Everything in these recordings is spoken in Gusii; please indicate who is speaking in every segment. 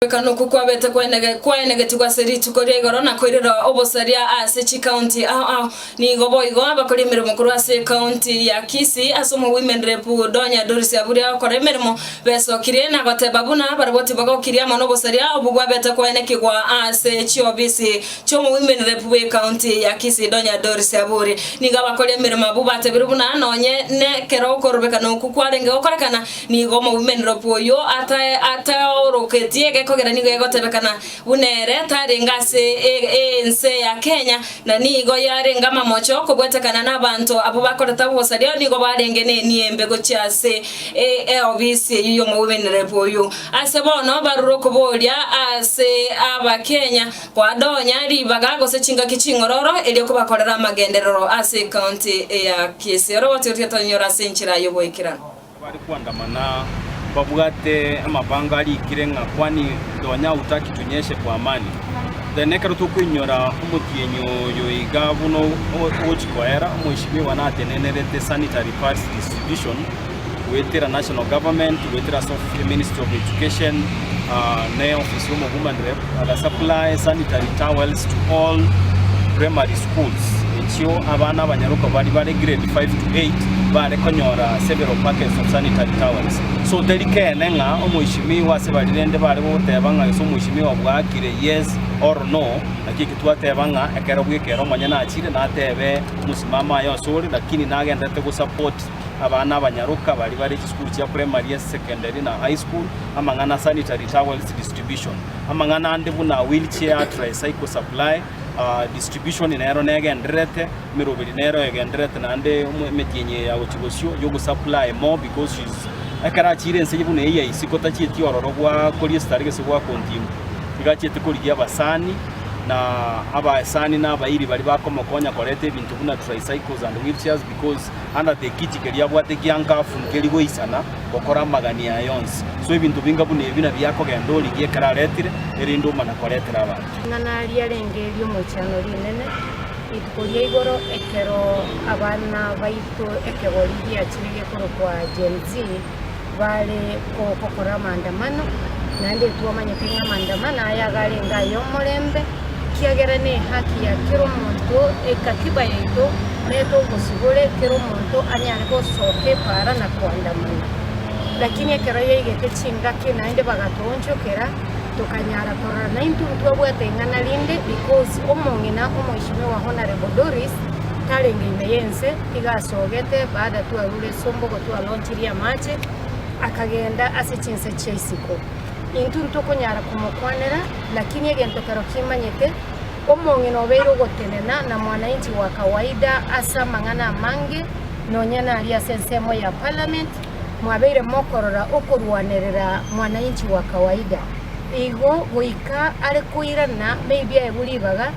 Speaker 1: Okoegwekana okwo kwabete kwaenegetigwe ase rituko ria igoro na koirera obosaria ase chikaunti ao ao. Nigo boigo abakori emeremo korwa ase ekaunti ya Kisii ase omogw'imendrepu Donya Doris Aburia okora emeremo besokirie na goteba buna barabwo tibagokiria amo nobosaria obwo bwabete kwaenekigwa ase chiofisi chi'omogw'imendrepu bw'ekaunti ya Kisii Donya Doris Aburia. Nigo abakori emeremo abwo batebire buna nonye nekero okorobekana okwo kwarenge gokorekana Nigo omoumenero bw'oyio ataoroketie egekogera nigo egotebekana buna ere tarenge ase ense ya Kenya, na nigo yarenge amamocho kobwetekana n'abanto abwo bakorete obosaria nigo barenge n'eniembe gochia ase eofisi eyio y'omoumenere bw'oyio. Ase bono barure okoboria ase Abakenya koadonya ribaga gose chingaki ching'ororo erio kobakorere amagenderero ase ekaunti ya Kisii. Ore gotigotiga tonyora ase enchera y'ogoikera. Bare koandamana
Speaker 2: mbabwate amabango arikire ng'a kwani ndonya hautaki tunyeshe kwa amani. Then ekero tokoinyora omotienyi oyo iga buna ogochi koera, omoisibwa obo natenenerete sanitary pads distribution goetera national government, goetera ase ministry of education, ne ofisi y'omogumani rep. Baga supply sanitary towels to all primary schools echio abana abanyaruka bari bare grade 5 to 8 bare konyora several packets of sanitary towels. So teri kene ng'a omoishimiwa ase bari rende bare gogoteba ng'a gese omoishimiwa bwakire yes or no naki eki twateba ng'a ekero bwekero omonyene achire natebe mosimamo aye ase ore lakini nagendererete go support Abana abanyaroka baria bare chisukuru chia primary, ase secondary, na high school, amang'ana a sanitary towels distribution, amang'ana ande buna wheelchair, tricycle supply, distribution nero negendererete, emeroberi nero egendererete naende emetienyi eye ya gochia bosio you supply more because she is ekero achiire ense buna eye ya isiko tachieti ororo gwakoria esitari gese gwa continue, iga achiete korigia abasani na abasani na abairi baria bakomokonya koreta ebinto buna tricycles and wheelchairs because. Handate ekiti keria abwate giankafu nkeri goisana gokora amagani aya onsi. So ebinto binga buna ebi nabi akogenda origie ekero aretire, erinde omana koretera abanto. Ng'a naria arenge
Speaker 3: ri'omoichano rinene rituko ria igoro ekero abana baito ekegori giachire gekorokwa Gen-Z, bare gokora amaandamano, naende twamanyete ng'a amaandamano aya iga arenge ay'omorembe, ekiagera nehaki ya kera omonto, ekatiba yaito nere ogosibore kera omonto anyare gosoka epaara na koandamana. Lakini ekero yaigete chingaki naende bagatoonchokera, tokanyara korora naintwe ntwabwate ing'ana rinde because omong'ina omoishimiwa Honourable Doris tarenge ime y'ense. Iga asogete, baada twarure esomba ogo twalonchirie amache, akagenda ase chinse chia isiko. Intwe ntokonyara komokwanera, lakini egento kero kimanyete, omong'ina nobeire ogotenena na mwananchi wa kawaida ase amang'ana amange, nonya nari ase ensemo ya parliament, mwabeire mokorora okorwanerera mwananchi wa kawaida. Igo goika are koirana maybe aebu ribaga,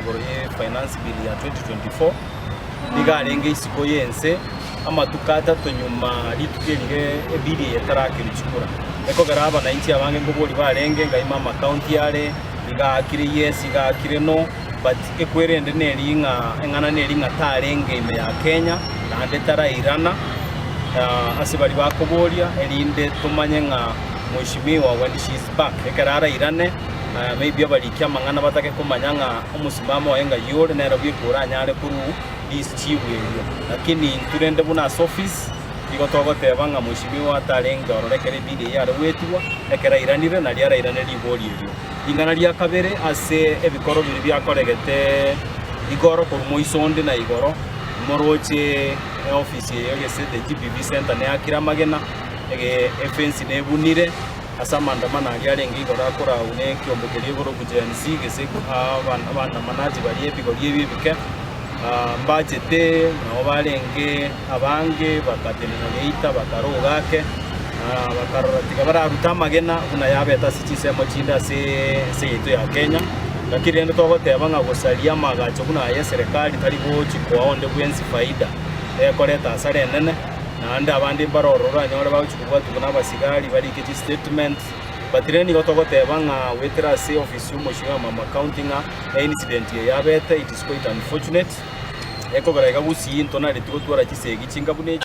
Speaker 2: Igoro ye Finance Bill ya 2024, nigo arenge isiko y'ense amatuko atato nyuma rituko erige ebill eye etarakerwa chikura. Ekogera abanainchi abange nkobori barenge ngaima amakaunti yare iga akire yes iga akire no but ekwerende neri ng'a eng'ana neri ng'a tarenge ime ya Kenya naende tarairana ah, ase bari bakoboria erinde tomanye ng'a mweshimiwa when she is back ekero arairane Maybe abarikia amang'ana batake komanya ng'a omosimamo oye ng'ai ore, nere bweka oranyare korwa this chief erio. Lakini intwe rende buna ase office, nigo togoteba ng'a mheshimiwa atarenge ororo ekero ebill eyio are goetigwa, ekero airanire nario arairane rigori erio. Ring'ana ria kabere ase ebikoro biria biakoregete igoro korwa moiso onde na igoro, moroche eoffice eyo gese the GPV centre neakire amagena, ege efence nebunire, Ase amaandamano aria arenge igoro akore agwo nekiombe keria igoro ogochia Gen. Z, geseku, abaandamanati baria ebigori ebio ebike mbachete, nao barenge abange bagatenena neita, bakaroga ake, na bakarora tiga bararute amagena buna yabete ase chinsemo chinde ase ense yaito ya Kenya. Gaki rende togoteba ng'a gosaria amaagacho buna aya eserekari tari gochi koa onde bwensi faida ekoreta hasara enene. Naende abande mbare ororo oranyore bagochia kobwatigwa nabasigari barike chistatement, but rende nigo togoteba ng'a goetera ase ofisi y'omochie bw'amama county ng'a eincident eye yabete, it is quite unfortunate, ekogera iga gusii ntonaretie gotwara chisegi chingabuna echi.